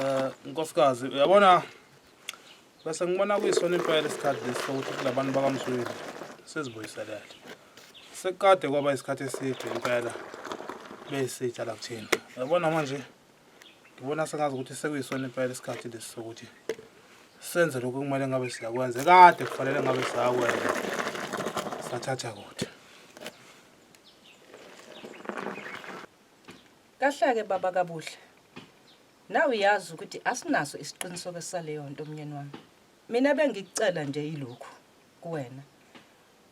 Eh nkosikazi uyabona bese ngibona kuyisona impela isikhathi lesi sokuthi kulabantu bakamsweli sizibuyiselele. Sekade kwaba isikhathi eside impela besitsha la kuthina. Uyabona manje ngibona sengazi ukuthi sekuyisona impela isikhathi lesi sokuthi senze lokho kumele ngabe siyakwenza kade kufanele ngabe siyakwenza sathatha kude Kahlake baba kabuhle. Nawe uyazi ukuthi asinaso isiqiniseko saleyo nto umnyeni wami. Mina bengikucela nje ilokhu kuwena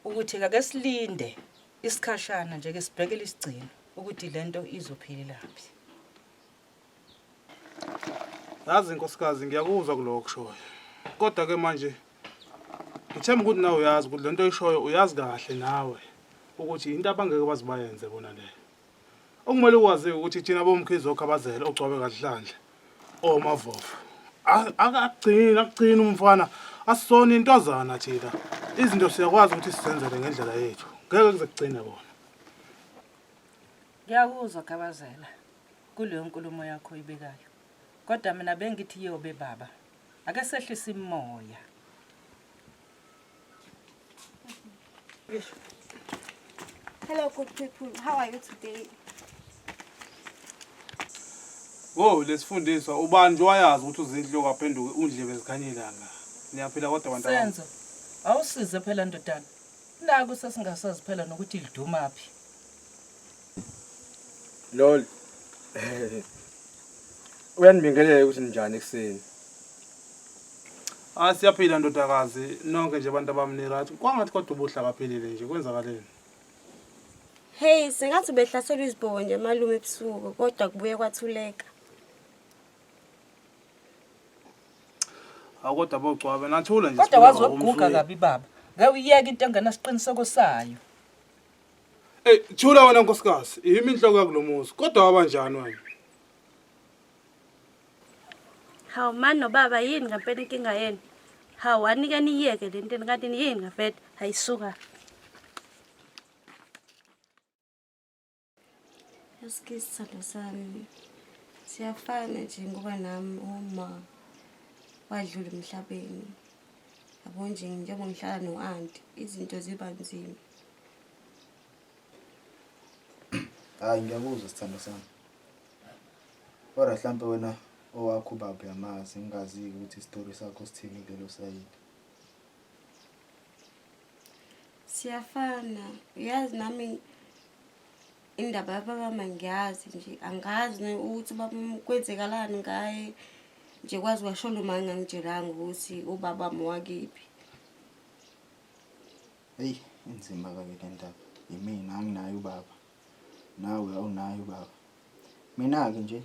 ukuthi kake silinde isikhashana nje ke sibhekele isigcino ukuthi lento izophelelaphi. Yazi nkosikazi ngiyakuzwa kuloko kushoyo. Kodwa ke manje ngithemba ukuthi nawe uyazi ukuthi lento oyishoyo uyazi kahle nawe ukuthi into abangeke bazibayenze bona leyo. Okumele ukwazi ukuthi thina bomkhize okhabazela ogcwabe kaDlhandla omavovo. A- Akagcini akugcini umfana asisona intwazana thina. Izinto siyakwazi ukuthi sizenzele ngendlela yethu. Ngeke kuze kugcine kona. Ngiyakuzwa Gabazela kuleyo nkulumo yakho ibekayo. Kodwa mina bengithi yobe baba. Ake sehlise imoya. Hello, good people. How are you today? Wo lesifundiswa ubani wayazi ukuthi uzinhlo kwaphenduke undlebe ezikhanyelanga. Niyaphila kodwa abantu abami. Senzo, awusize phela ndodana. Naku sesingasazi phela nokuthi lidumaphi. Lol. Uyanibingelela ukuthi ninjani ekuseni. Ah siyaphila ndodakazi nonke nje abantu abami ni right. Kwangathi kodwa ubuhla kaphilile nje kwenzakaleni. Hey, sengathi ubehlaselwa izibhobo nje malume ebusuku kodwa kubuye kwathuleka. Hawu kodwa bogcwabe nathula nje. kodwa siphila wazi ngokomfo waguga wethu. kabi baba ngeke uyeke into engenasiqiniseko sayo Ey, thula wena nkosikazi, yimi inhloko yakulomuzi. Kodwa wabanjani wena? Hawu mani nobaba yini ngempela inkinga yenu? Hawu anike niyeke le ntini kanti yini ngavete? Hayi suka. Eske isithando sami siyafana nje ngoba nami uma wadlula emhlabeni yabo nje njengoba ngihlala no-anti izinto ziba nzima Hayi ngiyakuzwa sithando sami. Kodwa mhlampe wena owakho ubaba uyamazi ngingazi-ke ukuthi isitori sakho sithini kulelo sayidi. siyafana uyazi nami indaba yababa mangiyazi nje angazi ne- ukuthi ubaba m- kwenzekalani ngaye nje kwazi kwasho lo ma ngangitshelanga ukuthi ubaba wami wakiphi Eyi inzima kabi le ndaba. Yimina anginayo ubaba. Nawe awunayo ubaba. Mina-ke nje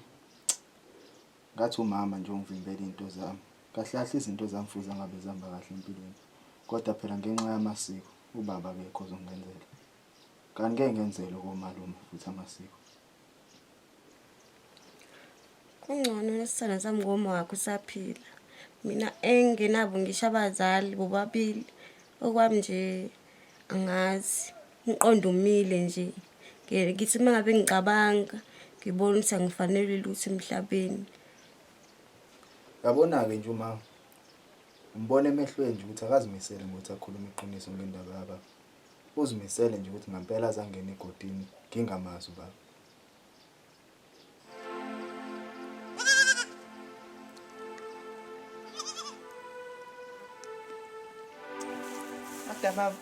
ngathi umama nje ungivimbela iy'nto zami. Kahle kahle izinto zami futhi angabe zihamba kahle empilweni. Kodwa phela ngenxa yamasiko ubaba akekho ozongenzela. Kanti ngeke ngenzele komalume futhi amasiko. kungcono nesithando sami ngoma wakho usaphila mina engingenabo ngisho abazali bobabili okwami nje angazi umqondo umile nje ngithi uma ngabe ngicabanga ngibona ukuthi angifanele lutho emhlabeni yabona-ke nje uma umbona emehlweni nje ukuthi akazimisele ngokuthi akhulume iqiniso ngendaba yababa Uzimisele nje ukuthi ngampela azangena egodini ngingamazi ubaba. Kodwa baba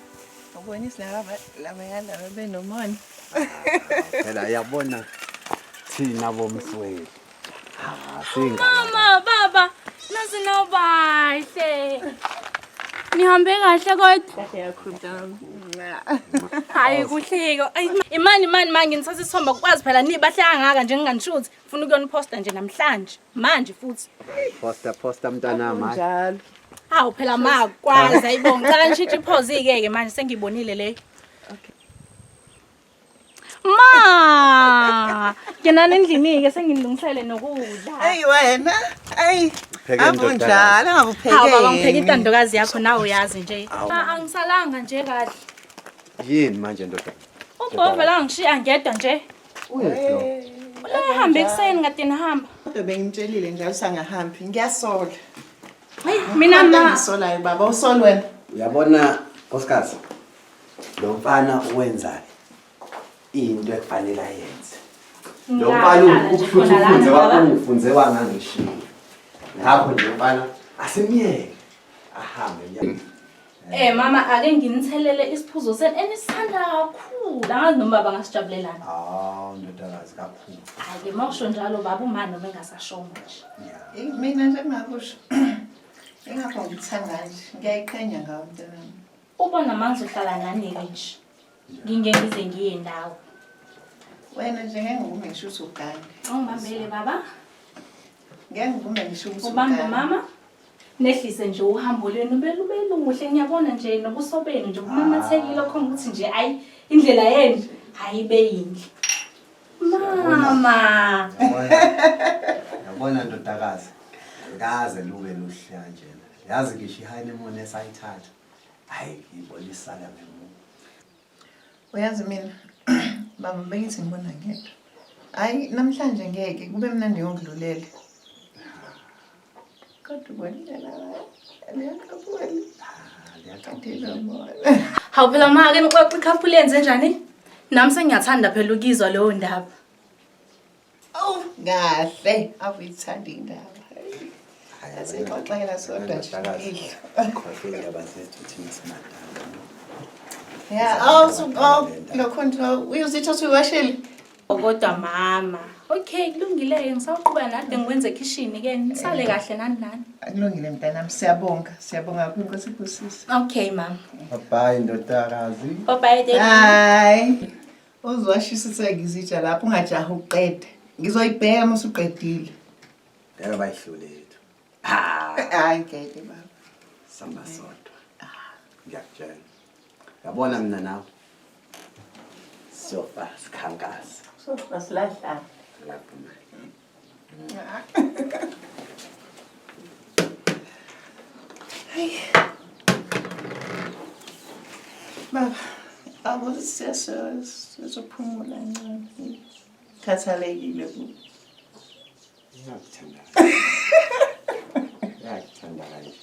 ubona isilaba laba yalaba benomona. Phela yabona thina bomsweli. Mama, baba, nazi no bahle. Nihambe kahle kodwa. Kahle yakho mntana. Hayi kuhleko. Imani imani manje ngisase isithomba kwazi phela ni bahle kangaka nje nginganishuthi. Ufuna ukuyona poster nje namhlanje. Manje futhi. Poster poster mntana manje. Njalo. Hawu phela ma kwazi ayibonga. Cela ngishintshe iphozi ke ke manje sengibonile le. Okay. Ma! Yanani endlini-ke sengilungisele nokudla. Eyi wena, eyi. Pheke Abu ndodakazi. njalo angakuphekeli. Hawu baba ngipheka intandokazi yakho nawe uyazi nje. Ma angisalanga nje kahle. Yini manje ndoda? Ubhova la ngishiya ngedwa nje. Uhambe ekuseni ngade nihamba. Kodwa bengimtshelile njalo sangahambi. Ngiyasola. Mina ma Ngisolayo baba, usol wena. Uyabona nkosikazi, Lo mfana wenza into ekufanele ayenze. Lo mfana Ngahlala nje ukufuthi khona lana, ufunze baba. wakungifunze wangangishiya. Ngakho nje mfana asimyeke ahambe nje. Eh mama ake nginithelele isiphuzo senu enisithanda kakhulu. Angazi noma baba ngasijabulelana. Hawu ndodakazi kakhulu. Hayi ke mawusho njalo baba umani noma engasashongo nje. Eyi, mina njengakusho ingakho ngithanda nje ngiyayiqhenya ngawo mntanami Uba namandla uhlala nani nje. Nginge ngize ngiye ndawo. Wena nje ngeke ngivume ngisho ukuthi ugane. Ungibambele baba. Ngeke ngivume ngisho ukuthi ugane. Ubambe mama. Nehlise nje uhambo lwenu belubeluhle ngiyabona nje nobuso benu nje kumamathekile khona ukuthi nje ayi indlela yenu hayi beyinhle. Mama. Yabona ndodakazi. Kaze lube luhle kanjena. yazi ngisho i-honeymoon esayithatha hayi ngibona isala ngemuva uyazi mina baba bengithi ngibona ngedwa hayi namhlanje ngeke kube mnandi ngokudlulele kodwa ubonela liyaqaphula hawu phela make nixoxa ikhafula yenze njani nami sengiyathanda phela ukizwa leyo ndaba awu kahle awuyithanda indaba asixoxela sodwa ntoilokhontouyozithosuwasheli kodwa mama okay kulungile-ke ngisawuqhuba nade ngikwenze ekhishini-ke nisale eh. kahle nani nani kulungile mntanami siyabonga siyabonga kho inkosi ikusisa okay mama babayi ndodakazi babayi Uzwashisa useke izitsha lapho ungajaha uqede. Ngizoyibheka uma usuqedile. Ngeke bayihlule yethu. Hayi ngeke baba. Samba sodwa. Ngiyakutshela. Yabona mina nawe. Sofa sikhankasa. Sofa silahlana. Lapho manje. Baba, abo sizophumula ncane. Khathalekile ku. Ngiyakuthandana. Ngiyakuthandana kanje.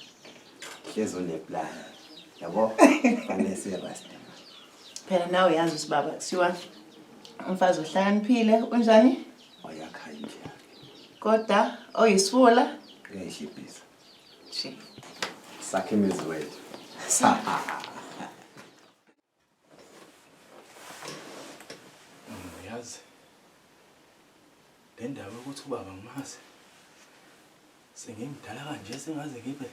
Hlezi uneplan. Yabo? Fanele sirasta. Phela nawe uyazi ukuthi baba kuthiwa umfazi ohlakaniphile unjani? wayakha indlu yakhe kodwa oyisifula uyayishibhisa nje sakhe imizi wethu uyazi le ndaba yokuthi ubaba ngimazi sengimdala kanje sengaze ngibe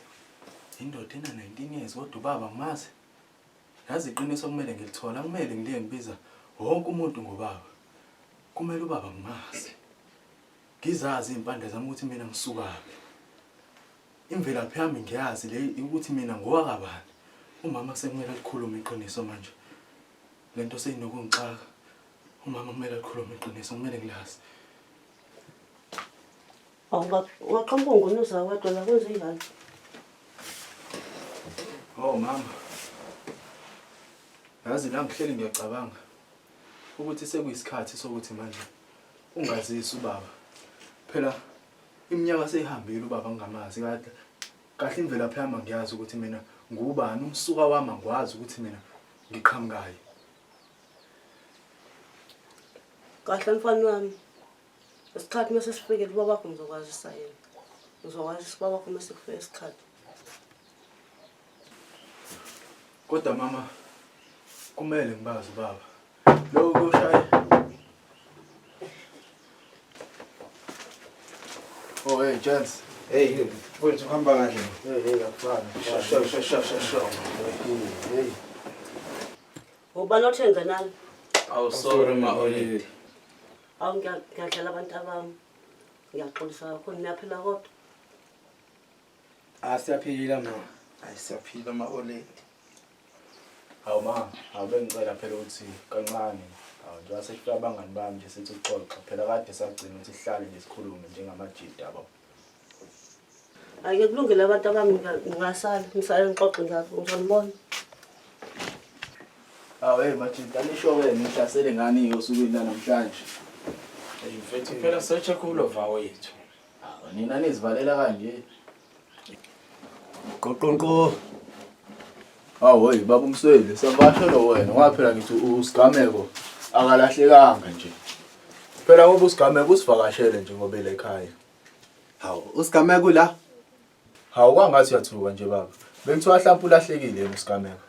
indoda ena-19 years kodwa ubaba ngimazi Yazi iqiniso kumele ngilithola, kumele ngiliye ngibiza wonke umuntu ngobaba. Kumele ubaba ngimazi. Ngizazi izimpande zami ukuthi mina ngisukaphi. Imvelaphi yami ngiyazi le ukuthi mina ngowakabani. Umama sekumele alikhulume iqiniso manje. Lento seyinokungixaka. Umama kumele alikhulume iqiniso, kumele ngilazi. Waqhamuka ungunuza wedwa la kwenze njalo. Oh mama. Yazi la ngihleli ngiyacabanga ukuthi sekuyisikhathi sokuthi manje ungazisi ubaba. Phela iminyaka seyihambile ubaba ngingamazi kade. Kahle imvelaphi yami ngiyazi ukuthi mina ngubani umsuka wami ngikwazi ukuthi mina ngiqhamukayo. Kahle mfana wami. isikhathi uma sesifikile uba wakho ngizokwazisa yena ngizokwazisa uba wakho uma sekufike isikhathi kodwa mama kumele ngibazi ubaba loko kuyoshaye oh hey gents hey mfowethu uhamba kahle hey hey akufani shasha shasha shasha hey ubani othenze nani awu sorry ma olile awu ngiya- ngiyadlala abantu abami ngiyaxolisa kakhulu niyaphila kodwa asiyaphila ma hayi siyaphila ma-oledi hawu ma hawu bengicela phela ukuthi kancane hawu njengoba sesifika abangani bami nje sithi ukuxoxa phela kade sagcina ukuthi sihlale nje sikhulume njengamajida baba Ake kulungele abantu abami ngingasala ngisale ngixoxe ngakho ngizonibona. Awu hey Majinta nisho wena ngihlasele ngani osukwini lanamhlanje. Hey mfethu phela search kulo vawo yethu. Nina nizivalela kanje. Qoqonqo. Hawoy baba umsweli sabasho lo wena waphela ngithi usigameko akalahlekanga nje. Phela ngoba usigameko usivakashele nje ngoba ele ekhaya. Hawu usigameko la. Hawu kwangathi uyathuka nje baba. Bengithiwa hlampe ulahlekile yena usigameko.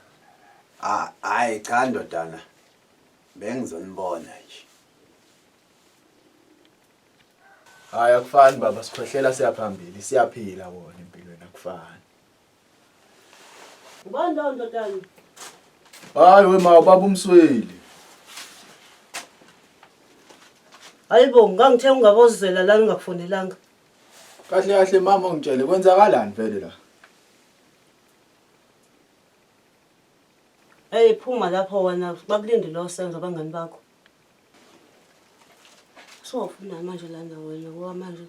Ah hayi cha ndodana. Bengizonibona nje. Hayi akufani baba sikhwehlela siyaphambili siyaphila kona empilweni akufani. Ubani lowo ndodana? Hayi we ma ubaba umsweli. Hayibo ngangithe ungabozela la ngingakufonelanga. Kahle kahle mama ungitshele kwenzakalani vele la? Hey phuma lapho wena bakulindile osenzo abangani bakho. Sowufuna manje lana wena ngoba manje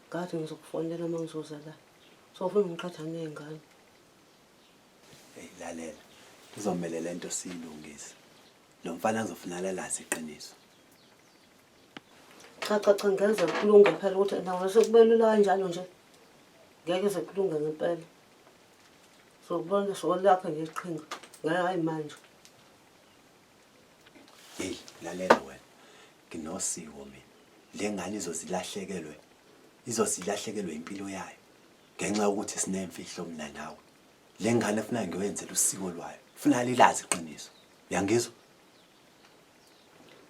ngathi ngizokufonela uma ngizoza la. Sowufuna ngiqhatha ney'ngane. Hey lalela. Kuzomele lento siyilungise. Lo mfana uzofuna lalazi iqiniso. Cha cha cha ngeze kulunge phela ukuthi nawe sekubelula kanjalo nje. Ngeke sekulunge ngempela. Sokubona sokulaphha ngeqhinga. Ngeke hayi manje. Hey, lalela wena. Nginosiko mina. Le ngane izozilahlekelwe. Izozilahlekelwe impilo yayo. Ngenxa yokuthi sinemfihlo mina nawe. Le ngane funa ngiwenzele usiko lwayo. Funa lilazi iqiniso. Yangizwa?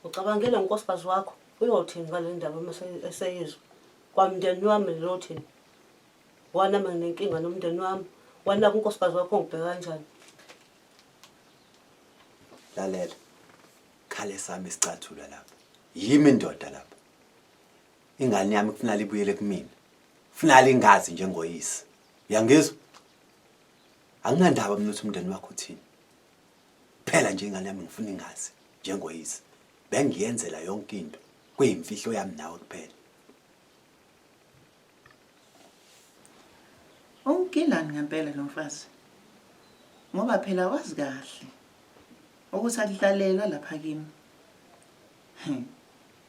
Ucabangela unkosikazi wakho uyothini ngale ndaba uma se- eseyizwa? Kwamndeni wami niyothini? Wona mina nginenkinga nomndeni wami. Wena kunkosikazi wakho ngibheka kanjani? lalela khale sami sicathula lapha yimi ndoda lapha ingane yami kufunala ibuyele kumina kufunala ingazi njengoyise uyangizwa anginandaba mina ukuthi umndeni wakho uthini phela nje ingane yami ngifuna ingazi njengoyise bengiyenzela yonke into kuyimfihlo yami nawe kuphela Ungigilani ngempela lo mfazi ngoba phela wazi kahle ukuthi akuhlalelwa lapha kimi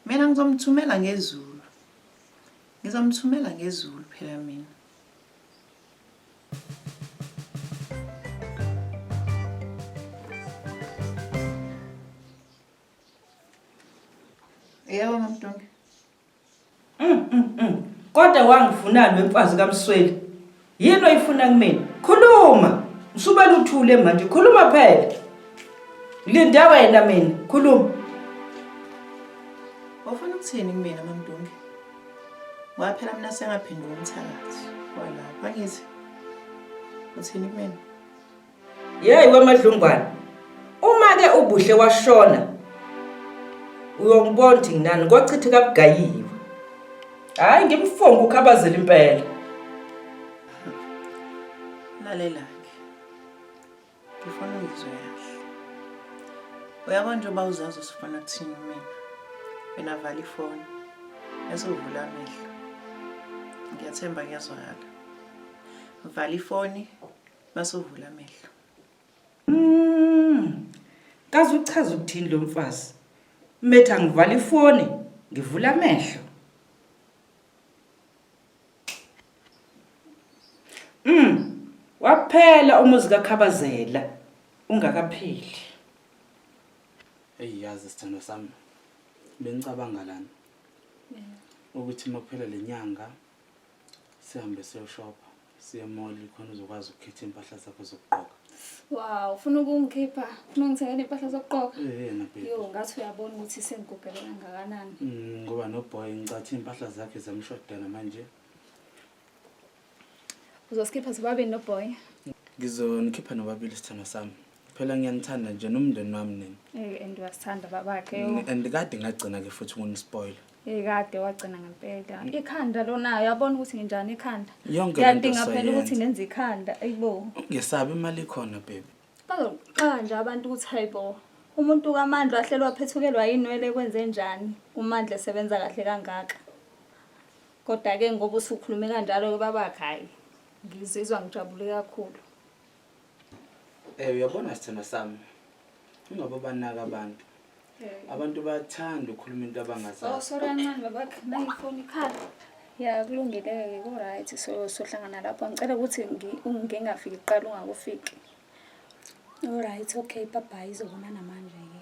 mina ngizomthumela ngezulu ngizomthumela ngezulu phela mina Yebo mamdunge Mm, mm, mm. Kodwa wangifunani wemfazi kaMsweli? Yini oyifuna kumina? Khuluma. Usuba luthule manje. Khuluma phela. Linda wena mina. Khuluma. Wafuna ukuthini kumina mamdunge? Waphela mina sengaphenduka umthakathi. Wala, bangithi. Uthini kumina? Yeyi wemadlungwana uma-ke ubuhle washona uyongibona ukuthi nginani kwachitha kabugayiwe hhayi ngimfonga ukhabazela impela lalelake ngifuna ungizwe kahle uyabona nje uba uzazi usifuna kuthini mina wena vala ifoni bese uvula amehlo ngiyathemba kuyazwakala vala ifoni Basovula amehlo. Mm. Kaze uchaza ukuthini lo mfazi? Metha ngivala ifoni, ngivula amehlo. Mm. Waphela umuzi kaKhabazela ungakapheli. Hey yazi sithando sami. Bengicabanga lana. Ukuthi makuphela lenyanga sihambe siyoshopha siye mall khona uzokwazi ukukhetha impahla zakho zokugqoka wow ufuna ukungikhipha ufuna ungithengele impahla zokugqoka yena baby yo ngathi uyabona ukuthi sengigugele kangakanani mm, ngoba no boy ngicathi impahla zakhe zamshodela manje uzosikhipha sobabini no boy ngizonikhipha nobabili isithando sami phela ngiyanithanda nje nomndeni wami nina Eh and wasithanda babakhe. Ni- and kade ngagcina ke futhi ukunispoila Eh kade wagcina ngempela. Ikhanda lona uyabona ukuthi nginjani ikhanda. Mm. Yonke lento Ngiyadinga phela sayenza. ukuthi ngenze ikhanda. Ayibo. ngesabi imali ikhona baby Bazoqala nje abantu ukuthi hayibo. Umuntu kaMandla wahlelwa phethukelwa yinwele kwenze njani? UMandla esebenza kahle kangaka. Kodwa ke ngoba usukhulume kanjalo ke babakhe hayi. Ngizizwa ngijabule kakhulu. Eh uyabona sithando sami. Ungabe banaka abantu. Abantu bayathanda ukukhuluma into abangazazi. Oh sorry kancane baba nayi phone ikhala. Ya kulungile-ke ku-right so sohlangana lapho ngicela ukuthi ngingafiki kuqala ungakufiki olright okay babhayi izobonana manje-ke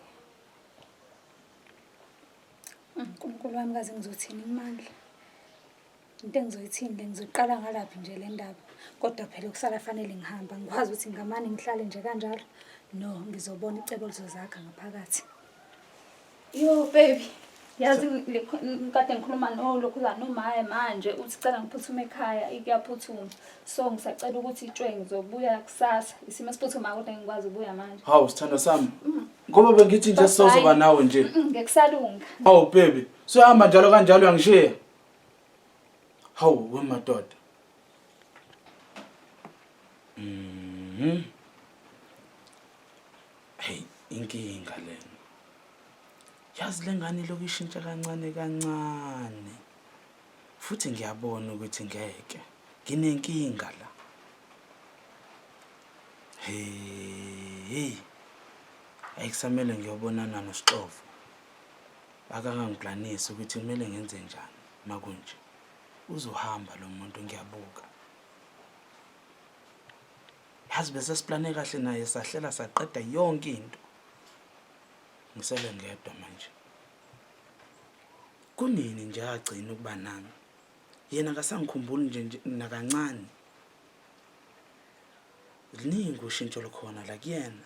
unkulunkulu wami kaze ngizothini imandla into engizoyithini le ngizoqala ngalaphi nje le ndaba kodwa phela kusala fanele ngihamba ngikwazi ukuthi ngamane ngihlale nje kanjalo no ngizobona icebo lizozakha ngaphakathi yo baby yazi ngikade ngikhuluma nolokhuzana nomaye manje uthi cela ngiphuthume ekhaya ikuyaphuthuma so ngisacela ukuthi itshwe ngizobuya kusasa isimo esiphuthumayo kodwa ngikwazi ukubuya manje hawu sithando sami mm. ngoba bengithi nje sizozoba nawe nje mm, ngekusarunga hawu baby sohamba njalo kanjalo uyangishiya Hawu wemadoda. Mhm. Hey, inkinga lena. Yazi lengane lokuyishintsha kancane kancane. Futhi ngiyabona ukuthi ngeke. Nginenkinga la. Hey. Ayikusamele ngiyobonana noSixovo. akangangiplanisi ukuthi kumele ngenze njani makunje uzohamba lo muntu ngiyabuka yazi bese siplane kahle naye sahlela saqeda yonke into ngisele ngedwa manje kunini nje agcina ukuba nami yena kasangikhumbuli nje nakancane liningi ushintsho lukhona la kuyena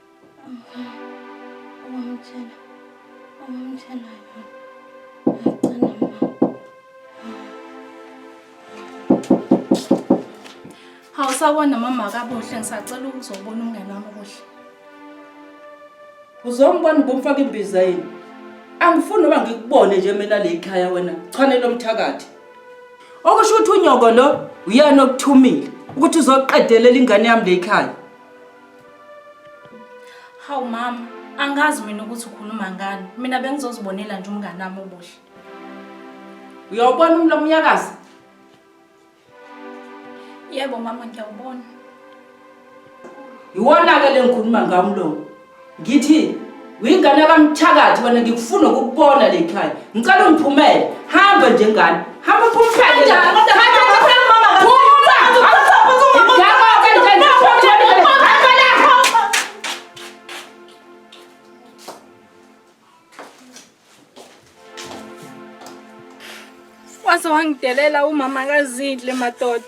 Awusawona mama kabuhle ngisacela ukuzobona umngane wami kuhle. Uzombona ubumfaka imbiza yini? Angifuni noba ngikubone nje mina le ikhaya wena. Chanele umthakathi. Okusho ukuthi unyoko lo uyena okuthumile ukuthi uzoqedelela ingane yami le ikhaya. Hawu mama, angazi mina ukuthi ukhuluma ngani. Mina bengizozibonela nje umngane wami obuhle. Uyawubona umlomo uyakazi? Yebo mama ngiyawubona. Yiwona-ke le ngikhuluma ngawo umlomo. Ngithi Uyingane kamthakathi wena ngikufuna ukubona le khaya. Ngicela ungiphumele. Hamba nje ngane. Hamba uphumele. Hamba Waze wangidelela umama kazidle madoda.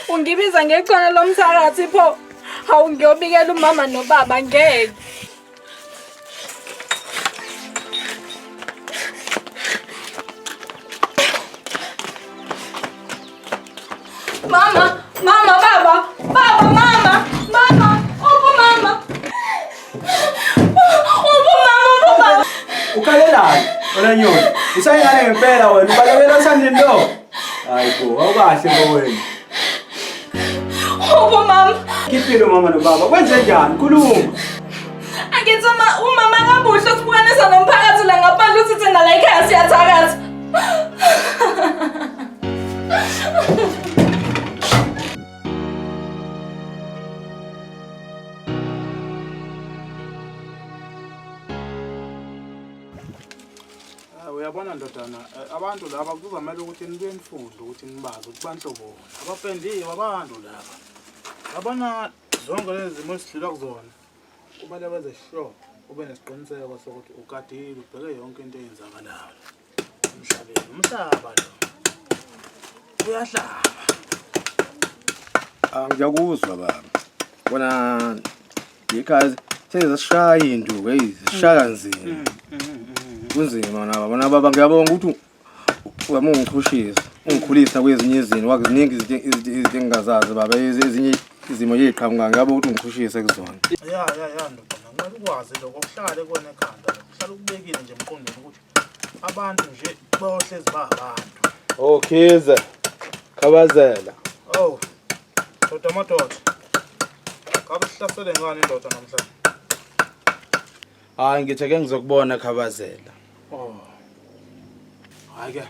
Ungibiza ngechwana lomthakathi pho. Hawu ngiyobikela umama nobaba ngeke. Mama, mama, baba, baba, mama, mama, opo mama. Opo mama, opo baba. Ukhalelani? Wena nyoni. Usayingane ngempela wena. Ubalekela usandini lo. Hayi bo, awukahle bo wena. Opo mama. Kiphile umama nobaba. Kwenze njani? Khuluma. Angithi uma umama akabuhle sibukane sanomphakathi la ngaphandle uthi thina la ekhaya siyathakaza. Ah, uyabona ndodana eh, abantu laba kuzomele ukuthi nibuye nifunde ukuthi nibazi ukuthi banhloboni abapendiwe abantu laba yabona zonke lezi zimo esidlula kuzona kumele wenze sure ube nesiqiniseko sokuthi ugadile ubheke yonke into eyenzakalayo emhlabeni umhlaba lo uyahlaba ah, ngiyakuzwa baba bona because sezishaya induku eyi zishaya kanzima mm, mm, mm, kunzima naba bona baba ngiyabonga ukuthi Wema ungichushisa, ungikhulisa kwezinye izinto, wakuziningi izinto izinto- izinto engingazazi baba, ezi- ezinye izimo eziqhamuka ngabe ukuthi ungichushise kuzona. ya ya ya ndoda kumele ukwazi lokho kuhlale kona ekhanda kuhlale ukubekile nje emqondweni ukuthi abantu nje bayohlezi bahabantu Oh Khize. Khabazela. owu doda amadoda kabe sihlasele ngani indoda namhlanje Hayi ngithe ke ngizokubona Khabazela. Oh. Hayi ke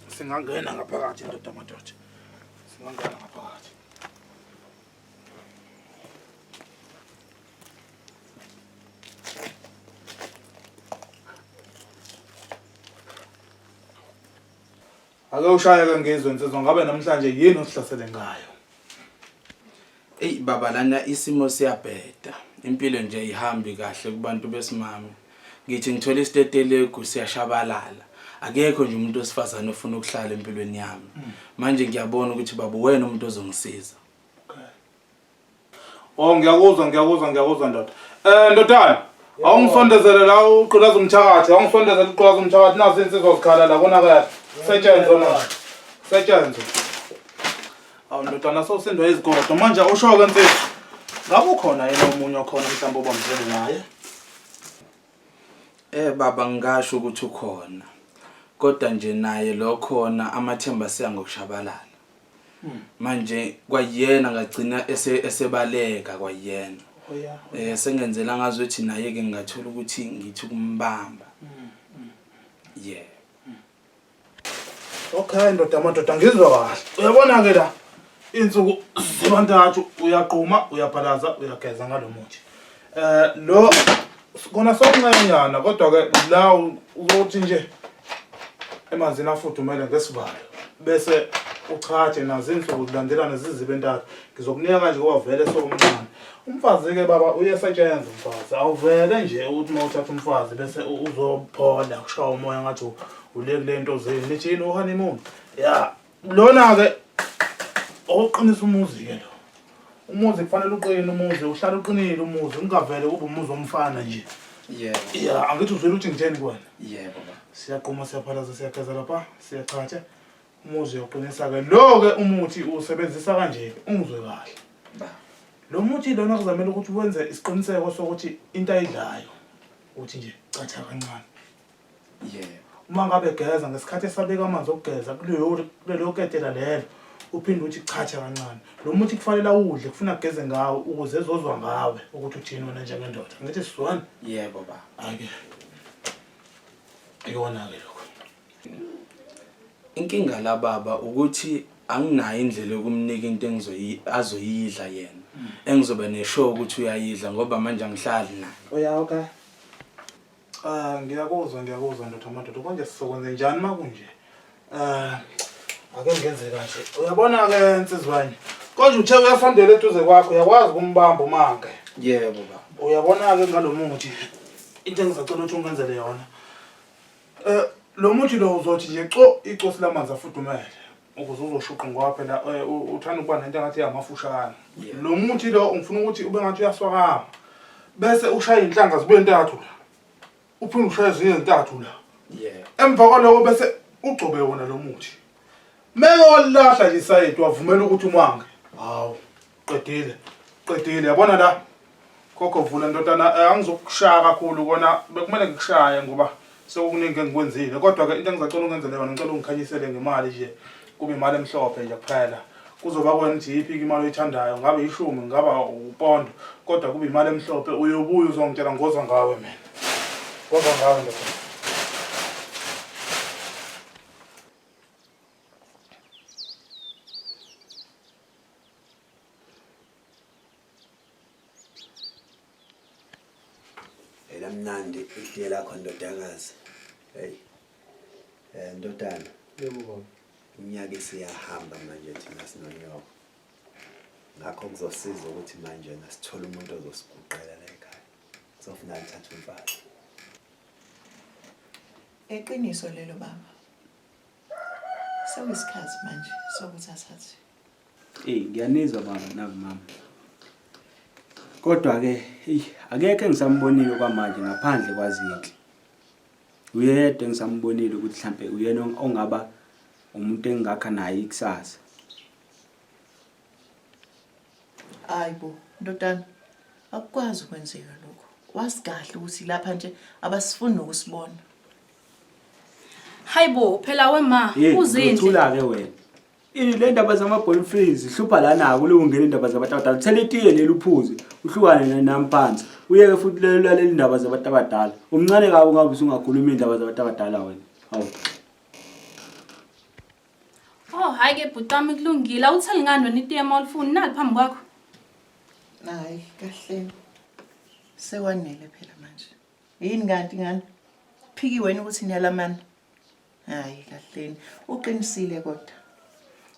singangena ngaphakathi ndoda madoda. Singangena ngaphakathi. Ake ushaye ke ngizwe nsizwa ngabe namhlanje yini osihlasele ngayo. Ey baba lana isimo siyabheda. Impilo nje ihambi kahle kubantu besimame. Ngithi ngithola isitetelegu siyashabalala. Akekho nje umuntu osifazana ofuna ukuhlala empilweni yami. Manje ngiyabona ukuthi baba wena umuntu ozongisiza. Oh ngiyakuzwa ngiyakuzwa ngiyakuzwa ndoda. Eh ndodana awungisondezele la uqulaza umthakathi awungisondezele uqulaza umthakathi nazi insizwa zikhala la konakala. Setshenzwe manje. Setshenzwe. Awu ndodana sosindwa izigodo manje usho ke mfethu. Ngabe ukhona yena omunye okhona mhlawumbe obamzele naye? Eh baba ngisho ukuthi ukhona. Kodwa nje naye lo khona amathemba siya ngokushabalala. manje kwayena ngagcina ese- esebaleka kwayena Oh, yeah. um sengenzela ngazi ukuthi naye-ke ngingathola ukuthi ngithi ukumbamba ye okay ndoda amadoda ngizwa kahle uyabona-ke la iy'nsuku zibantathu uyaquma uyabhalaza uyageza ngalo muthi um lo Kona sokuncanyana kodwa ke la uzothi nje emanzini afudumele ngesivalo bese uchaje nazo insuku zilandelana zizibe entathu ngizokunika kanje ngoba vele sowumncane umfazi-ke baba uyesetshenza umfazi awuvele nje ukuthi uma uthatha umfazi bese u- uzophola kushaya umoya ngathi u- ule kule nto zenu nithi yini uhanimuni ya Lona-ke oqinisa umuzi-ke lo. Umuzi kufanele uqine umuzi, uhlale uqinile umuzi, ungavele kube umuzi womfana nje. Yebo. Ya, angithi uzwile ukuthi ngitheni kuwena. Yebo baba. Siyaqoma siyaphalaza siyageza lapha, siyachatha. Umuzi uyoqinisa-ke. Lo-ke umuthi usebenzisa kanje, ungizwe kahle. Ba. Lo muthi lona kuzamele ukuthi wenze isiqiniseko sokuthi into ayidlayo ukuthi nje catha kancane. yebo uma ngabe egeza ngesikhathi esabeka amanzi okugeza kulelo ketela lelo uphinde uthi chacha kancane lo muthi kufanele awudle kufuna ageze ngawo ukuze ezozwa ngawe ukuthi uthini wena njengendoda ngithi sizwana yebo ba ake ikona-ke lokho inkinga lababa ukuthi anginayo indlela yokumnika into azoyidla yena mm. engizobe neshow ukuthi uyayidla ngoba manje angihlali naye uyaoka Ah ngiyakuzwa ngiyakuzwa ndoda madoda konje sizokwenze njani makunje? Ah ake ngenze kanje. Uyabona ke nsizwanye. Konje uthe uyasondela eduze kwakho uyakwazi ukumbamba umange. Yebo baba. Uyabona ke ngalomuthi into engizacela ukuthi ungenzele yona. Eh lo muthi lo uzothi nje co icosi lamanzi afudumele. ukuze uzoshuqa ngoba phela eh, uthanda ukuba nento engathi yamafushane lo muthi lo ngifuna ukuthi ube ngathi uyaswakama bese ushaya inhlanga zibe ntathu la uphinde ushaya ezinye ezintathu la emva kwaloko bese ugcobe wona lo muthi meke walilahla lisayedi wavumela ukuthi umange hawu qedile qedile yabona la khokho vula ndodana eh, angizokushaya kakhulu kona bekumele ngikushaye ngoba sekukuningi engikwenzile kodwa-ke into engizacela ungenzele yona ngicela ungikhanyisele ngemali nje kube imali emhlophe nje kuphela kuzoba kwena ukuthi yiphi imali oyithandayo ngabe ishumi ngaba upondo kodwa kube imali emhlophe uyobuya uzongitshela ngoza ngawe mina ngoza ngawe ndodana elamnandi itiye lakho ndodakazi hey eh ndodana yebo baba unyaka isiyahamba manje thina sinonyoko ngakho kuzosiza ukuthi manje nasithola umuntu ozosiguqela la ekhaya kuzofuna athathe umfana eqiniso lelo baba sewisikhathi manje sokuthi athathe Ey ngiyanizwa baba nakumama. Kodwa ke ey akekho engisambonile kwamanje ngaphandle kwazinhle. Uyedwa engisambonile ukuthi mhlambe uyena ongaba umuntu engakha naye ikusasa. Hayibo ndodana akukwazi ukwenzeka lokho. Wazi kahle ukuthi lapha nje abasifuni nokusibona. Hayibo phela wema Hey, uzindle. uthula ke wena. Le ndaba zama-boyfriend zihlupha lana kule ungena indaba zabantu abadala thela itiye leli uphuze uhlukane nami phansi uyeke futhi leli ndaba zabantu abadala umncane kabi ungabe usungakhulumi iy'ndaba zabantu abadala wena hawu Oh hayi ke bhuti wami kulungile awutheli ngani wena itiye uma ulifuni nali phambi kwakho hayi kahle sekwanele phela manje yini kanti ngani phiki wena ukuthi niyalamana hayi kahleni uqinisile kodwa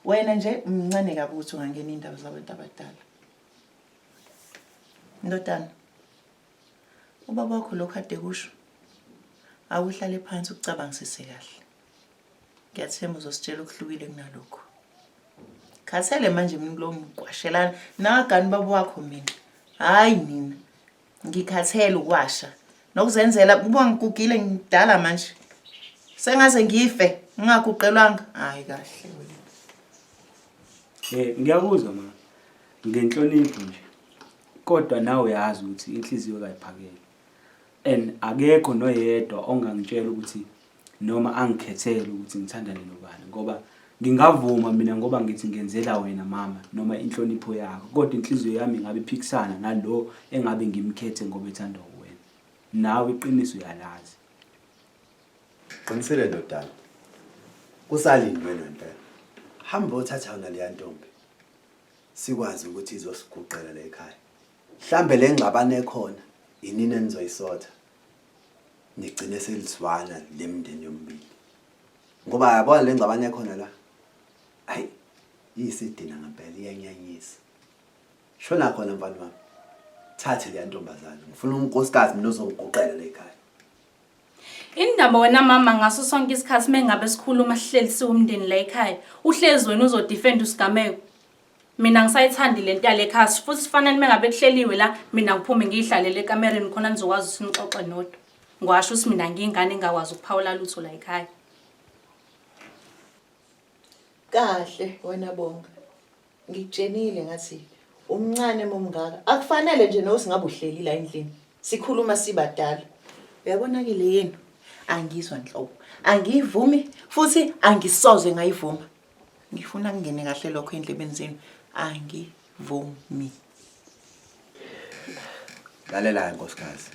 wena nje mncane kabi ukuthi ungangena iy'ndaba zabantu abadala ndodana ubaba wakho lokhu ade kusho awuhlale phansi ukucabangisise kahle ngiyathemba uzositshela okuhlukile kunalokhu khathele manje mina kulo mgwashelana nagani baba wakho mina hhayi mina ngikhathele ukwasha nokuzenzela kuba ngigugile ngidala manje sengaze ngife ngingaguqelwanga hayi kahle eh ngiyakuzwa ma ngenhlonipho nje kodwa nawe uyazi ukuthi inhliziyo kayiphakele and akekho noyedwa ongangitshela ukuthi noma angikhethele ukuthi ngithandane nobani ngoba ngingavuma mina ngoba ngithi ngenzela wena mama noma inhlonipho yakho kodwa inhliziyo yami ngabe iphikisana nalo engabe ngimkhethe ngoba ethanda uwena nawe iqiniso uyalazi qinisele ndodana kusalindwe ngempela hamba othatha yona leya ntombi sikwazi ukuthi izosiguqela la ekhaya mhlambe le ngxabano ekhona yinini enizoyisotha nigcine selizwana le mndeni yomibili ngoba yabona le ngxabane ekhona la hayi iyisidina ngempela iyanyanyisa shona khona mfana wami thathe leya ntombazane ngifuna unkosikazi mina ozongiguqela le khaya indaba wena mama ngaso sonke isikhathi mengabe sikhuluma sihlelisiwe umndeni la ekhaya uhlezi wena uzodefend usigameko mina ngisayithandi le nto yale khasi futhi sifanele uma ngabe kuhleliwe la mina ngiphume ngiyihlalele ekamereni khona nizokwazi ukuthi nixoxe nodwa ngiwasho ukuthi mina ngiyingane engakwazi ukuphawula lutho la ekhaya kahle wena bonga ngikutshenile ngathi umncane momngaka akufanele nje nokuthi ngabe uhleli la endlini sikhuluma sibadala uyabona-ke le yenu angizwa nhlobo angiyivumi futhi angisoze ngayivuma ngifuna kungene kahle lokho endlebeni zenu angivumi lalela-ke nkosikazi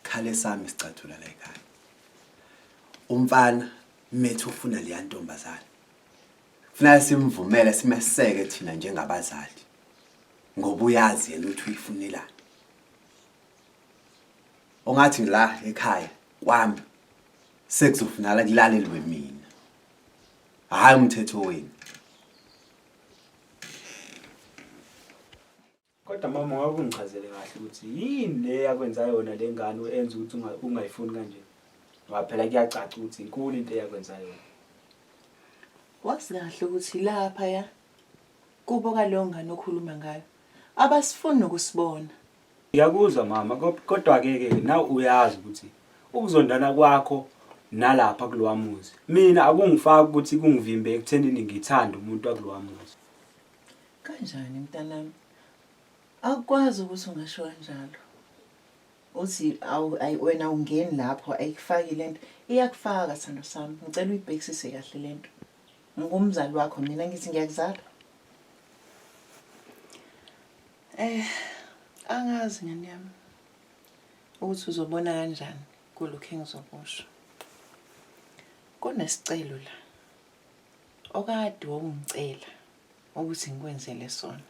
khale sami sicathula la ekhaya umfana methu ufuna leya ntombazane funeka simvumele simeseke thina njengabazali ngoba uyazi yena ukuthi uyifunelani ongathi ngila ekhaya kwami sekuzofunala kulalelwe mina hhayi umthetho wenu kodwa mama wakungichazele kahle ukuthi yini le yakwenza yona le ngane enza ukuthi ungayifuni kanje ngoba phela kuyacaca ukuthi inkulu into eyakwenza yona wazi kahle ukuthi lapha ya kubo kaleyo ngane okhuluma ngayo abasifuni nokusibona Ngiyakuzwa mama kodwa-ke ke nawe uyazi ukuthi ukuzondana kwakho nalapha kulowa muzi mina akungifaki ukuthi kungivimbe ekuthenini ngithande umuntu wakulowa muzi kanjani mntanami akukwazi ukuthi ungasho kanjalo uthi wena ungeni lapho ayikufaki le nto iyakufaka sithando sami ngicela uyibhekisise kahle le nto ngingumzali wakho mina ngithi ngiyakuzala Eh, angazi ngane yami ukuthi uzobona kanjani kulokhu engizokusho. Kunesicelo la okade wawungicela ukuthi ngikwenzele sona.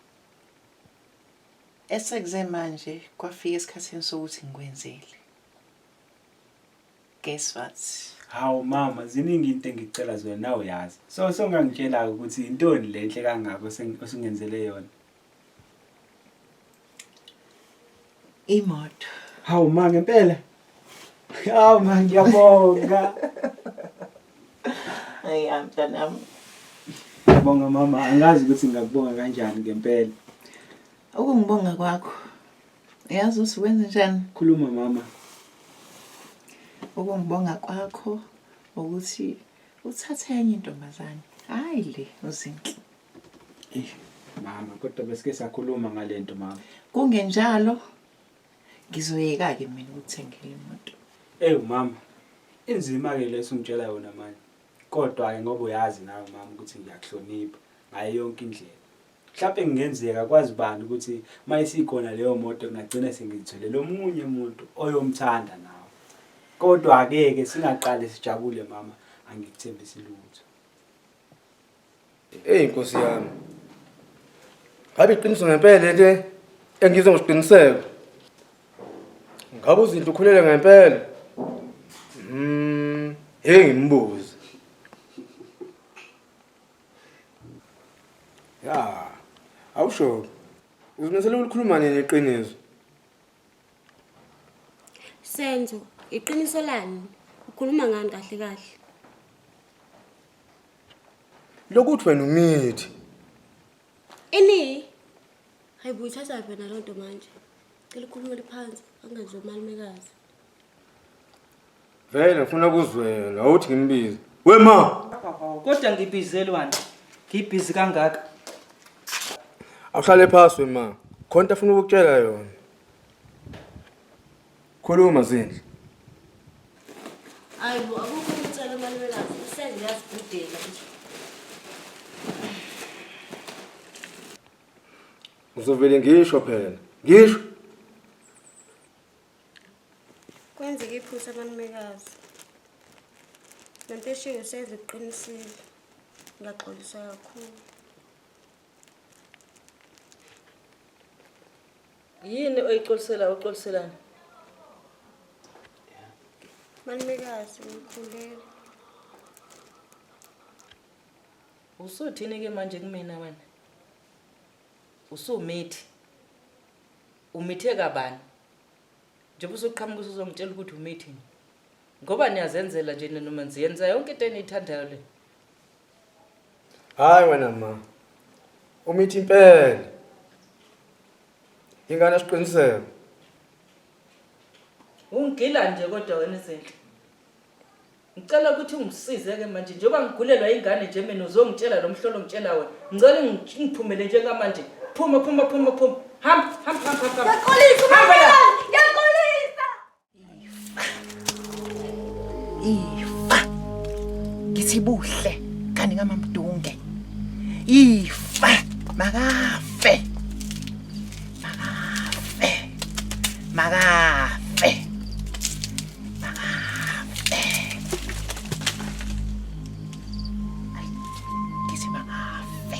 Esekuze manje kwafika esikhathini sokuthi ngikwenzele. Guess what? Hawu mama, ziningi into engicela zona nawe yazi. So songangitshela ukuthi intoni lenhle kangako osengenzele yona. imoto hawu ma ngempela hawu ma ngiyabonga ayi amntanami ngiyabonga mama angazi ukuthi ngingakubonga kanjani ngempela ukungibonga kwakho uyazi uthi wenze njani khuluma mama ukungibonga kwakho ukuthi uthathe enye intombazane hayi le uzinhle mama kodwa besike sakhuluma ngale nto mama kungenjalo ngizoyeka-ke mina ukuthengela imoto ewu mama inzima-ke leso ungitshela yona manje kodwa-ke ngoba uyazi nawe mama ukuthi ngiyakuhlonipha ngayo yonke indlela mhlawumpe kungenzeka kwazi bani ukuthi uma isikhona leyo moto kungagcina sengizitholele omunye umuntu oyomthanda nawe kodwa-ke-ke singaqale sijabule mama angikuthembisi lutho Eyi nkosi yami. Ngabe iqiniso ngempela lento engizwe ngosiqiniseko. Ngabe uzinto ukhulele ngempela? Mm, hey ngimbuze. Ya, awusho. Uzimisele ukukhuluma nini iqiniso? Senzo, iqiniso lani? Ukhuluma ngani kahle kahle? lokuthi wena ungithi Ini? Hayi buyithatha wena loo nto manje. Cela ukhulumele phansi angenzi umalumekazi. vele ngifuna ukuzwela awuthi ngimbize wema kodwa ngibizelwani ngibhizi kangaka awuhlale phasi wema khona into afuna ukukutshela yona Khuluma Zindlu. Ayibo akukho umtshela umalumekazi usenze yazibhudela nje. Uzovele ngisho phela. Ngisho. Kwenzeke iphutha amalumekazi. Lento eshiwo usenze uqinisile. Ngaxolisa kakhulu. yini oyixolisela uxoliselani malumekazi ngikhulele usuthini ke manje kumina wena usumithi umithe kabani njengoba usuqhamuka usuzongitshela ukuthi umithi ngoba niyazenzela nje noma nziyenza yonke into eniyithandayo le Hayi wena ma. Umithi impela. Ingane esiqiniseko. Ungigila nje kodwa wena izinto. Ngicela ukuthi ungisize ke manje njengoba ngigulelwa ingane nje mina uzongitshela lo mhlolo ngitshela wena. Ngicela ungi- ungiphumele njengamanje. Phuma phuma phuma phuma. Hamba hamba hamba hamba. Ngiyaxolisa Hamba la. uMamela, ngiyaxolisa. ifa ngithi buhle kanti ngamamdunge ifa makafe makafe makafe makafe Ay, ngithi makafe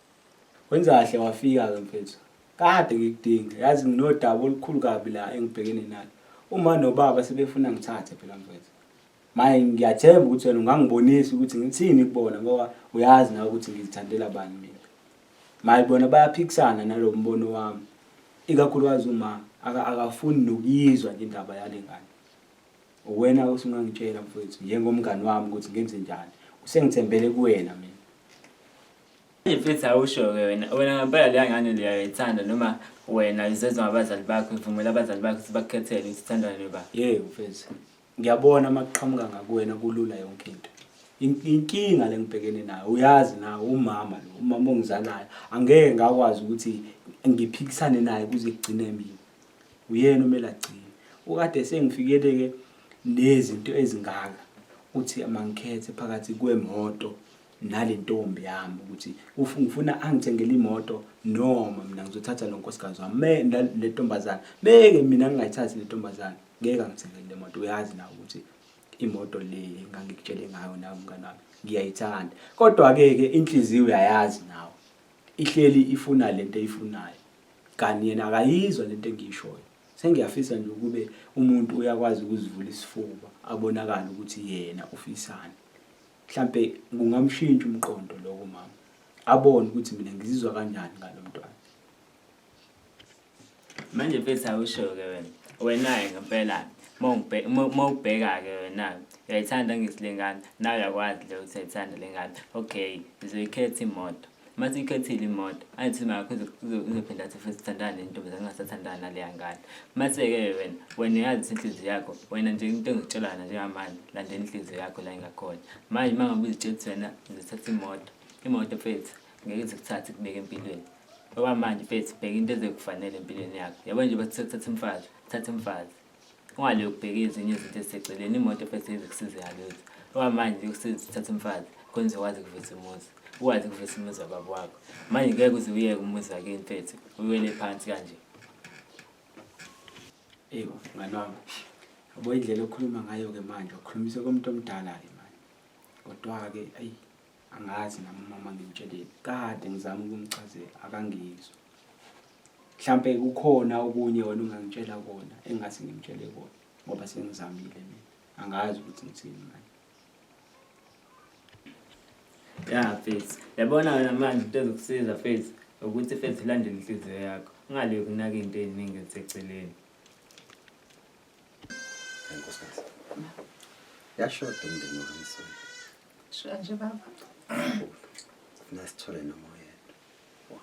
Wenza kahle wafika-ke mfethu. Kade ngikudinga. Yazi nginodaba olukhulu kabi la engibhekene nalo. Uma nobaba sebefuna ngithathe phela mfethu. Manje ngiyathemba ukuthi wena ungangibonisa ukuthi ngithini kubona ngoba uyazi nawe ukuthi ngizithandela bani mina. Manje bona bayaphikisana nalo mbono wami. Ikakhulukazi uma akafuni nokuyizwa nje indaba yale ngane. Uwena osungangitshela mfethu njengomngani wami ukuthi ngenze njani. Usengithembele kuwena mina. Mfethu awusho-ke wena wena ngempela leya ngane liyayithanda noma wena izezwa ngabazali bakho ivumela abazali bakho ukuthi bakukhethele ukuthi uthandwa noba ye mfethu ngiyabona uma kuqhamuka ngakuwena kulula yonke into inkinga le ngibhekene nayo uyazi nawe umama lo umama ongizalayo angeke ngakwazi ukuthi ngiphikisane naye kuze kugcine mina uyena umele agcine ukade sengifikele-ke nezinto ezingaka uthi mangikhethe phakathi kwemoto nale ntombi yami ukuthi ngifuna angithengele imoto noma mina ngizothatha lo nkosikazi wami me le ntombazane meke mina ngingayithathi le ntombazane ngeke angithengele le moto uyazi nawe ukuthi imoto le ngangikutshele ngayo nawe mngane wami ngiyayithanda kodwa-ke ke inhliziyo uyayazi nawe ihleli ifuna le nto eyifunayo kanti yena akayizwa le nto engiyishoyo sengiyafisa nje ukube umuntu uyakwazi ukuzivula isifuba abonakale ukuthi yena ufisani Mhlampe kungamshintsha umqondo lowo mama. Abone ukuthi mina ngizizwa kanjani ngalo mntwana. Manje mfethu awusho ke wena. Wena ngempela mawubheka ke wena uyayithanda ngisilengane nawe uyakwazi le ukuthi uyayithanda lengane okay ngizoyikhetha imoto uma siyikhethile imoto ayithi imali yakho izophinda athi futhi sithandana nentombazane ungasathandana naleya ngane mase-ke wena wena uyazi ukuthi inhliziyo yakho wena nje into engikutshelana njengamanje landela inhliziyo yakho la ingakhona manje uma ngabe uzitshela ukuthi wena uzothatha imoto imoto mfethu ngeke zikuthathe kubeke empilweni okwamanje mfethu bheka into ezekufanele empilweni yakho yabo nje bathi sekuthatha umfazi thatha umfazi Ungathi uyokubheka ezinye izinto eziseceleni imoto first aid kusiza yalutho. Ngoba manje kusiza uthatha umfazi khona uzokwazi ukuvisa umuzi. Ukwazi ukuvisa umuzi wababa wakho. Manje ngeke uze uyeke umuzi wakini mfethu uwele phansi kanje. Eyi ngane wami yabo indlela okhuluma ngayo-ke manje ukhulumisa komuntu omdala-ke manje kodwa-ke ayi angazi nami umama ngimtsheleni kade ngizama ukumchazela akangizwa mhlampe kukhona okunye wena ungangitshela kona engase ngimtshele kona ngoba sengizamile mina angazi ukuthi ngithini manje ya fethu yabona wena manje into ezokusiza fethu ukuthi fethu ulandele inhliziyo yakho ungaleyi kunaka into ey'ningi eziseceleni yashoda umndeni wami sona Shuka nje baba. Funa sithole noma oyedwa.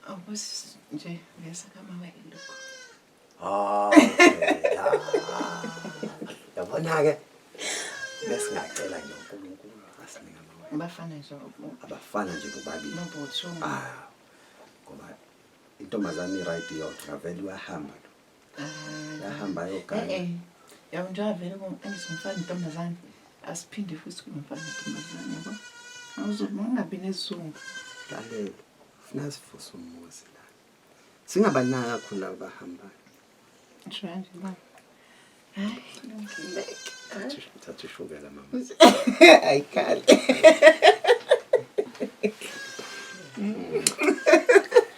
Awubusi nje uyasa kama wena lokho. Ah. okay. Ah. Yabona ke. Bese ngacela nje uNkulunkulu asinika amawele. Abafana nje ubu- Abafana nje bobabili. nobuthu. Ah. Ngoba intombazane right yodwa ngavele uyahamba lo. yahamba yogana eh, eh. yabo njengoba vele angithi umfana intombazane asiphinde futhi kube umfana intombazane yabo awuzobe ungabi nesizungu lalela funa sivusa umuzi la singabanaki kakhulu laba bahambayo shanje ba thatha ushukela mama ayikhale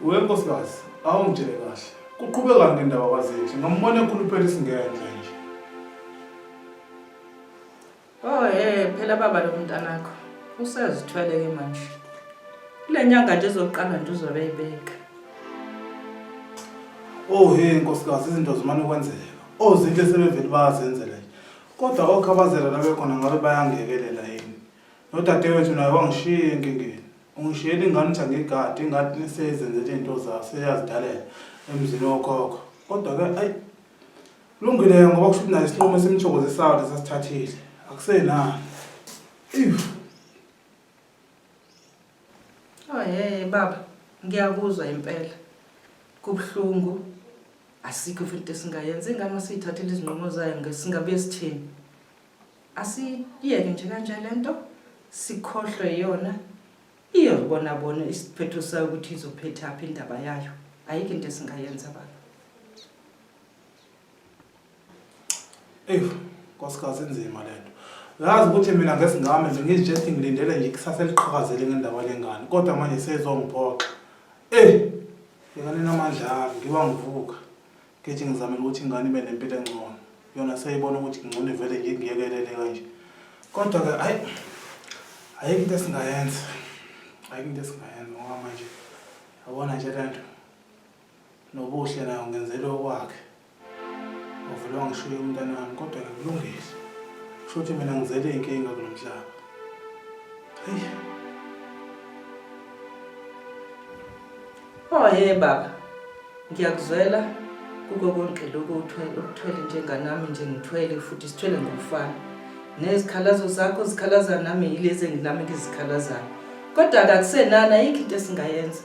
We nkosikazi, awungitshele kahle. Kuqhubeka ngendaba kwazethu. Ngombona ekhuluphela isingenhla nje. Oh eh phela baba lo mntanakho usezithwele ke manje. Kule nyanga nje ezoqala nje uzobe eyibeka. Oh hey nkosikazi izinto zimane kwenzeka. Ozinhle sebevele bayazenzela nje. Kodwa okhabazela labekhona ngabe bayangekelela yini? Nodadewethu naye wangishiya enkingeni. Ungishiyela ingane ukuthi angigade, ingane seyizenzela izinto zayo, seyazidalela emzini wokhokho. Kodwa-ke ayi kulungile-ke ngoba kusho ukuthi naye isinqumo esimthokozisayo lesi asithathile. Akusenani. Ewu. Oh yeye baba, ngiyakuzwa impela. Kubuhlungu. Asikho futhi into esingayenza ingane masiyithathile izinqumo zayo ngesingabuye sithini. asiyeke nje kanje lento sikhohlwe yona iyobona bona isiphetho sayo ukuthi izophetha apha indaba yayo ayikho into esingayenza baba eyi nkosikazi inzima le nto yazi ukuthi mina ngesingame nje ngizijethi ngilindele nje ikusasa eliqhakazele ngendaba lengane kodwa manje seyizongiphoxa eyi ngikanenamandla ami ngiba ngivuka Ngithi ngizamile ukuthi ingane ibe nempilo engcono. Yona seyibona ukuthi kungcono ivele nje ngiyekelele kanje. Kodwa-ke hhayi ayikho into esingayenza. Ayikho into esingayenza ngoba manje yabona nje le nto nobuhle nayo ngenzele okwakhe. Uvele wangishiya umntana wami kodwa-ke kulungile. Kusho ukuthi mina ngizele iy'nkinga kulo mhlaba. Hheyi. Oh he baba, ngiyakuzwela kuko konke lokhu okuthwele njenganami nje ngithwele futhi sithwele ngokufana. Nezikhalazo zakho zikhalaza nami yilezi enginami ngizikhalazayo. Kodwa akakusenani ayikho into esingayenza.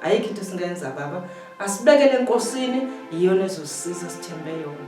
Ayikho into esingayenza baba. Asibekele enkosini iyona ezosisiza sithembe yona.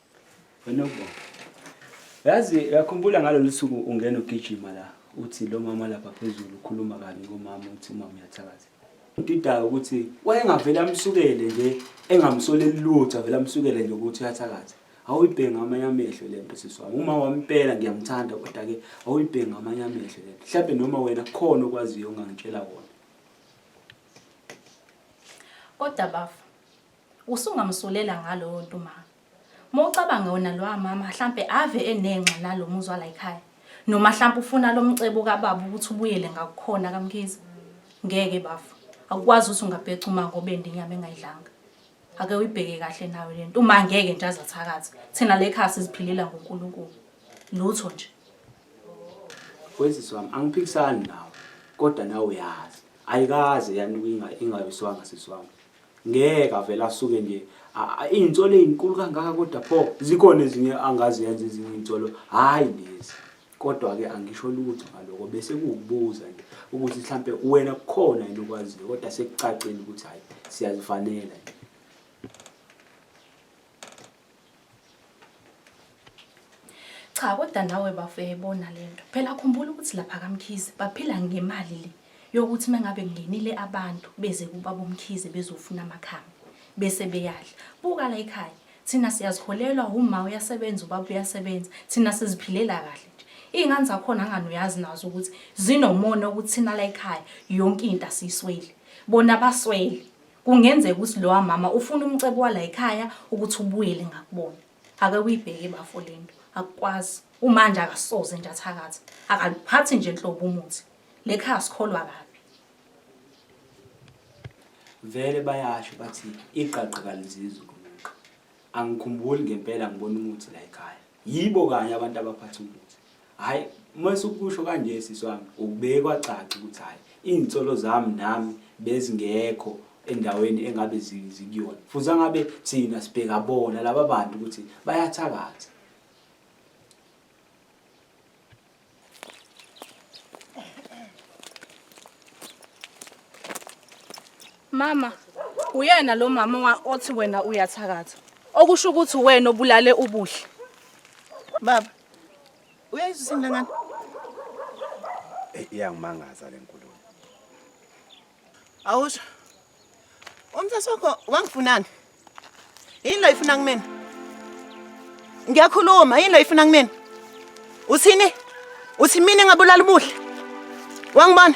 Wena uba. Yazi uyakhumbula ngalolu suku ungena ugijima la uthi lo mama lapha phezulu ukhuluma kabi ngomama uthi umama uyathakaza. Udidayo ukuthi wayengavele amsukele nje engamsoleli lutho avele amsukele nje ukuthi uyathakaza. Awuyibhenga amanye amehlo le nto sisi wami. Uma wampela ngiyamthanda kodwa-ke awuyibhenga amanye amehlo le nto. Mhlawumbe noma wena kukhona okwaziyo ongangitshela kona. Kodwa bafa Usungamsulela ngalowo nto umama. Uma ucabanga wona lowa mama hlampe ave enenxa nalo muzwa la ekhaya. Noma hlampe ufuna lo mcebo kababa ukuthi ubuyele ngakukhona kaMkhize. Ngeke bafo. Akukwazi ukuthi ungabheca uma ngobe ndinyama engayidlanga. Ake uyibheke kahle nawe lento. Uma ngeke nje azathakatha. Thina le ekhaya siziphilela ngoNkulunkulu. Lutho nje. Weziswa wami angiphikisani nawe kodwa nawe uyazi. Ayikaze yanuka ingayiswanga siswami. ngeke avele asuke nje iy'nsolo ey'nkulu kangaka kodwa pho zikhona ezinye angazenza ezinye iy'nsolo hhayi lezi kodwa-ke angisho lutho ngaloko bese kuwukubuza nje ukuthi mhlampe wena kukhona yini okwaziyo kodwa sekucacile ukuthi hhayi siyazifanela nje cha kodwa nawe bafo uyayibona le nto phela khumbula ukuthi lapha kamkhize baphila ngemali le yokuthi uma ngabe kungenile abantu beze kubaba umkhize bezofuna amakhambi bese beyadla buka la ekhaya thina siyaziholelwa uma uyasebenza ubaba uyasebenza thina siziphilela kahle nje iy'ngane zakhona ngani uyazi nazo ukuthi zinomona ukuthi thina la ekhaya yonke into asiyisweli bona baswele Kungenzeka ukuthi lowa mama ufuna umcebo walayikhaya ukuthi ubuyele ngakubona. Ake uyibheke bafo lento. Akukwazi. Umanje akasoze nje athakathe. Akaluphathi nje nhlobo umuthi. Lekhaya sikholwa kabi. Vele bayasho bathi iqaqa kalizizwe kunuka. Angikhumbuli ngempela ngibona umuthi layikhaya. Yibo kanye abantu abaphatha umuthi. Hayi uma sukusho kanje sisi wami ukubeke kwacaca ukuthi hayi iy'nsolo zami nami bezingekho endaweni engabe zikuyona futhi angabe thina sibheka bona laba bantu ukuthi bayathakatha Mama, uyena lo mama othi wena uyathakatha. Okusho ukuthi wena obulale ubuhle. Baba, Uyayizwa isini lengane? Eh, iyangimangaza le nkulumo. Awusho. Umthetho wakho wangifunani? Yini lo ifuna kumina? Ngiyakhuluma, yini lo ifuna kumina? Uthini? Uthi mina ngabulala umuhle? Wangibona?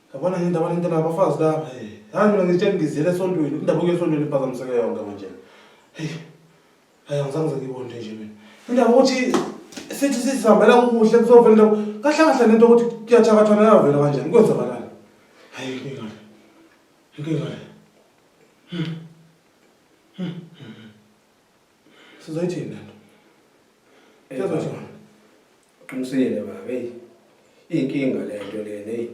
Yabona nje indaba lento nabafazi laba. Hey, hayi mina ngitshela ngizele esontweni. Indaba yesontweni iphazamiseke yonke manje. Hey. Hayi ngizange ngizibonde nje mina. Indaba ukuthi sithi sisihambela kuhle kuzovela indaba. Kahle kahle lento ukuthi kuyathakathwa nayo vela kanjani. Kwenza kanjani? Hayi inkinga. Inkinga. Hmm. Hmm. sizoyithini lento Eh, Yebo, baba. John. uqinisile baba heyi iyinkinga le nto lena heyi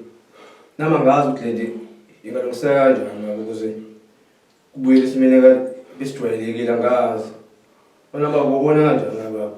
nama ngazi ukuthi le nto ingalungiseka kanjani baba ukuze kubuyele esimeni ka- esidwayelekile angazi bona baba ubona kanjani na baba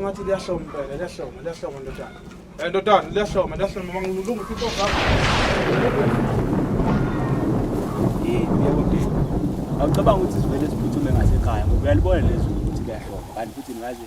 ngathi liyahloma impela liyahloma liyahloma ndodana um ndodana liyahloma liyahloma mangilunga ukuthi intoka awucabanga ukuthi sivele siphuthume ngasekhaya ngoba uyalibona lezulu ukuthi liyahloma kanti futhi ngaze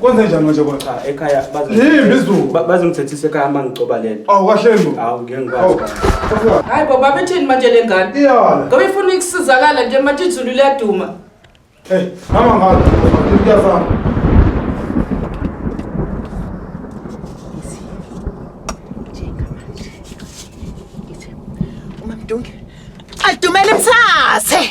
kwenze njani manje kona ah, ekhaya yimbi izulu bazongithethisa ekhaya uma ngigcoba le nto awu kahle mbo awu ngeke ngikwazi oh, hayi baba bethini manje le ngane iyala ngoba ifuna ukusizakala nje manje izulu liyaduma hey mama ngalo kuyafana Dumele mthathe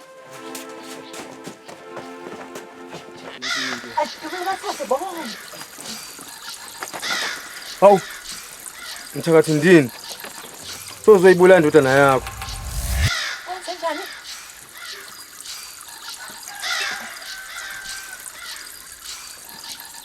Hawu mthakathi ndini sozoyibula indodana yakho